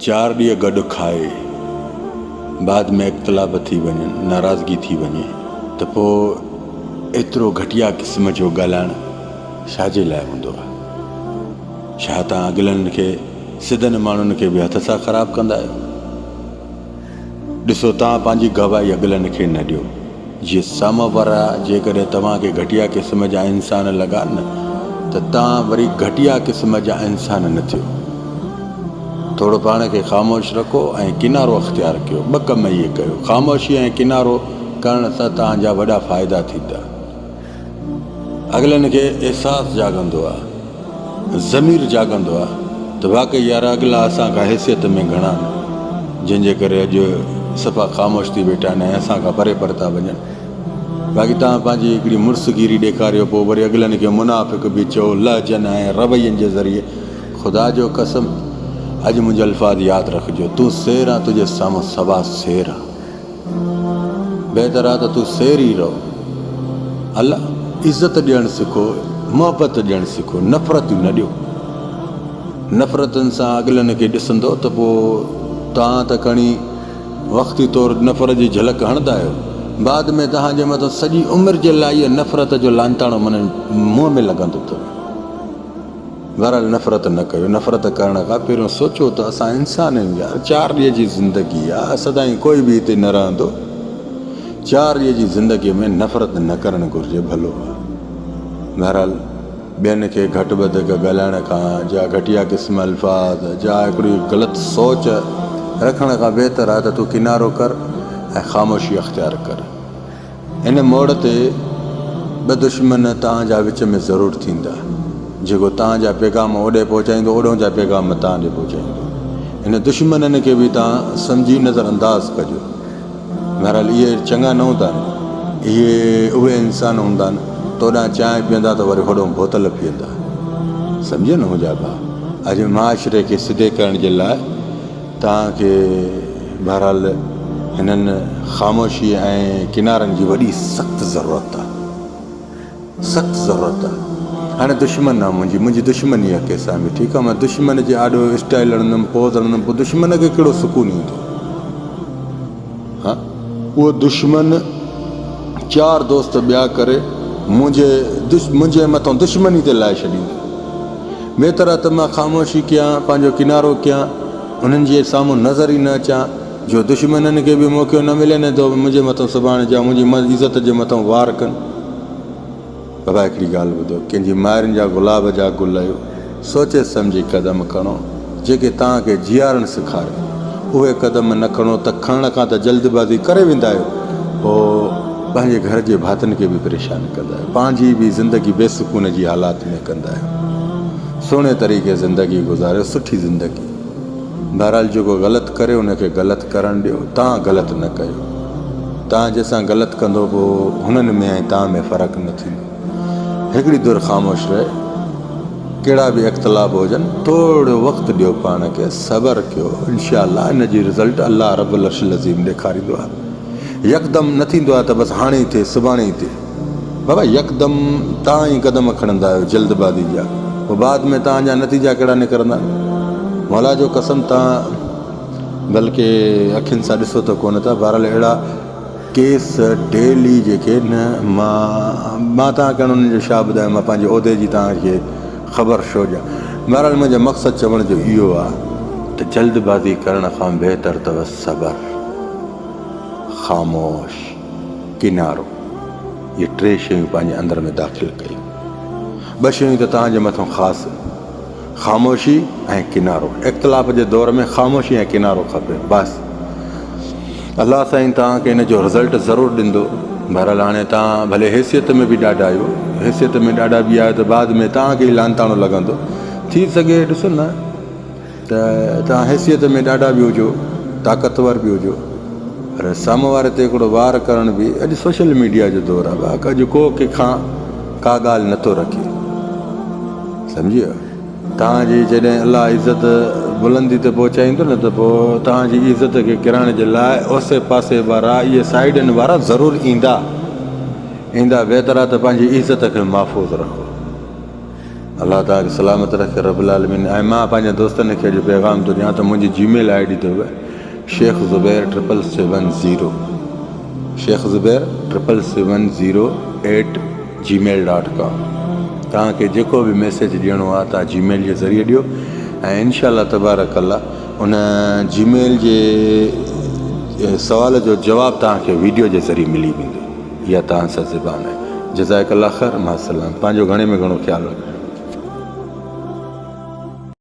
چار ڏينهن گڏ کائي بعد ۾ اختلاف ٿي وڃن ناراضگي ٿي وڃي ته پوء ايترو گهٽيا قسم جو ڳالهائڻ ڇا جي لاء هوندو آهي؟ ڇا توهان اڳلن کي سڌن ماڻهن کي به هٿ سان خراب ڪندا آهيو؟ ڏسو توهان پنهنجي گواهي اڳلن کي نه ڏيو جي سامهون وارا جيڪڏهن توهان کي گهٽيا قسم جا انسان لڳا نه ته توهان وري گهٽيا قسم جا انسان نه ٿيو ٿورو پاڻ کي خاموش رکو ۽ ڪنارو اختيار ڪيو ٻه ڪم اهي ڪيو خاموشي ۽ ڪنارو ڪرڻ سان توهان جا وڏا فائدا ٿيندا اڳلن کي احساس جاڳندو آ ضمير جاڳندو آ ته واقعي يار اڳلا اسان کان حيثيت ۾ گهڻا آهن جنهن جي ڪري اڄ صفا خاموش ٿي ويٺا آهن ۽ اسان کان پري پر ٿا وڃن باقي توهان پنهنجي هڪڙي مڙس گيري ڏيکاريو پوء وري اڳلن کي منافق به چئو لهجن ۽ روين جي ذريعي خدا جو قسم اڄ منهنجا الفاظ ياد رکجو تون سير آن تنهنجي سامهون سوا سير آهن. بهتر آ ته تون سير ئي رهو. هل عزت ڏيڻ سکو، محبت ڏيڻ سکو، نفرتيون نه ڏيو. نفرتن سان اڳلن کي ڏسندو ته پوء توهان ته کڻي وقتي طور نفرت جي جهلڪ هڻندا آهيو، بعد ۾ توهان جي مٿان سڄي عمر جي لائي نفرت جو لانتاڻو منهن ۾ لڳندو اٿو. بھرحال نفرت نه ڪيو، نفرت ڪرڻ کان پھريون سوچو ته اسان انسانن جا چار ڏينھن جي زندگي آ، سدائين ڪوئي به ھتي نه رھندو، چار ڏينھن جي زندگي ۾ نفرت نه ڪرڻ گھرجي ڀلو آ، بھرحال ٻين کي گھٽ وڌيڪ ڳالھائڻ کان جا گھٽيا قسم الفاظ جا ھڪڙي غلط سوچ رکڻ کان بھتر آ ته تون ڪنارو ڪر ۽ خاموشي اختيار ڪر. ان موڙ تي ٻه دشمن تان جا وچ ۾ ضرور ٿيندا. جيڪو تان جا پيغام اوڏي پهچائيندو اوڏهون جا پيغام تان ڏي پهچائيندو. ان دشمنن کي به تان سمجهي نظر انداز ڪجو. بهرحال اهي چڱا نه هوندا نه اهي اهي انسان هوندا نه توڏان چانهه پيئندا ته وري هوڏهون بوتل پيئندا. سمجهيو نه منهنجا ڀاء اڄ معاشري کي سڌي ڪرڻ جي لاء توهان کي بهرحال هنن خاموشيء ۽ ڪنارن جي وڏي سخت ضرورت آ. سخت ضرورت آ. هاڻي دشمن آ منهنجي. منهنجي دشمني آ ڪيسان به. ٺيڪ آ. مان دشمن جي آڏو اسٽائيل هڻندم، پوز هڻندم. پوء دشمن کي ڪهڙو سڪون ايندو. اهو دشمن چار دوست ٻيا ڪري منهنجي مٿان دشمني تي لائي ڇڏيندي. بهتر آهي ته مان خاموشي ڪيان، پنهنجو ڪنارو ڪيان، انهن جي سامهون نظر ئي نه اچان، جو دشمنن کي به موقعو نه ملي نه ته اهي منهنجي مٿان سڀاڻي جا منهنجي عزت جي مٿان وار ڪن. بابا هڪڙي ڳالهه ٻڌو، ڪنهن جي مائرن جا گلاب جا گل آهيو، سوچي سمجهي قدم کڻو، جيڪي توهان کي جيارڻ سيکارين، اهي قدم نه کڻو ته کڻڻ کان ته جلد بازي ڪري ويندا آهيو، پوء پنهنجي گهر جي ڀاتن کي به پريشان ڪندا آهيو، پنهنجي به زندگي بي سڪون جي حالات ۾ ڪندا آهيو، سهڻي طريقي زندگي گذاريو، سٺي زندگي. بهرحال جيڪو غلط ڪري ان کي غلط ڪرڻ ڏيو تان غلط نه ڪيو تان جنهن سان غلط ڪندو پوء هنن ۾ ۽ تان ۾ فرق نه ٿيندو هڪڙي در خاموش رهي ڪهڙا به اختلاف هجن ٿورڙو وقت ڏيو پاڻ کي صبر ڪيو انشاء الله ان جي رزلٽ الله رب العرش العظيم ڏيکاريندو آهي يڪدم نه ٿيندو آهي ته بس هاڻي ئي ٿئي سڀاڻي ئي ٿئي بابا يڪدم توهان ئي قدم کڻندا آهيو جلد بازي جا پوء بعد ۾ توهان جا نتيجا ڪهڙا نڪرندا مولا جو قسم توهان بلڪه اکين سان ڏسو ته ڪونه ٿا بهرحال اهڙا ڪيس ڊيلي جيڪي نه مان مان توهان کي انهن جو شا ٻڌايو مان پنهنجي عهدي جي توهان کي خبر شو ڏيان بهرحال منهنجو مقصد چوڻ جو اهو آهي ته جلد بازي ڪرڻ کان بهتر اٿو صبر خاموش. ڪنارو، اهي ٽي شيون پنهنجي اندر ۾ داخل ڪيون. ٻه شيون ته توهان جي مٿان خاص آهن. خاموشي ۽ ڪنارو. اختلاف جي دور ۾ خاموشي ۽ ڪنارو کپي. بس. الله سائين توهان کي ان جو رزلٽ ضرور ڏيندو. بهرحال هاڻي توهان ڀلي حيثيت ۾ به ڏاڍا آهيو. حيثيت ۾ ڏاڍا به آهيو ته بعد ۾ توهان کي ئي لعنتاڻو لڳندو. ٿي سگهي ڏسو نه. ته توهان حيثيت ۾ ڏاڍا به هجو، طاقتور به هجو پر سامهون واري تي هڪڙو وار ڪرڻ به اڄ سوشل ميڊيا جو دور آهي واهڪ اڄ ڪو ڪنهن کان ڪا ڳالهه نه ٿو رکي سمجهيو توهان جي جڏهن الله عزت بلندي تي پهچائيندو نه ته پوء توهان جي عزت کي ڪرائڻ جي لاء اوسي پاسي وارا اهي سائيڊن وارا ضرور ايندا ايندا بهتر آهي ته پنهنجي عزت کي محفوظ رکو. الله توهان کي سلامت رکي رب العالمين ۽ مان پنهنجي دوستن کي اڄ پيغام ٿو ڏيان ته منهنجي جي ميل آئي ڊي اٿو Shaikh Zubair triple seven zero Shaikh Zubair triple seven zero eight Gmail dot com توهان کي جيڪو به ميسيج ڏيڻو آهي توهان جي ميل جي ذريعي ڏيو ۽ انشاء الله تبارڪ الله ان جي ميل جي سوال جو جواب توهان کي ويڊيو جي ذريعي ملي ويندو اها توهان سان زبان آهي. جزائک الله خير مع السلام پنهنجو گهڻي ۾ گهڻو خيال رکجو.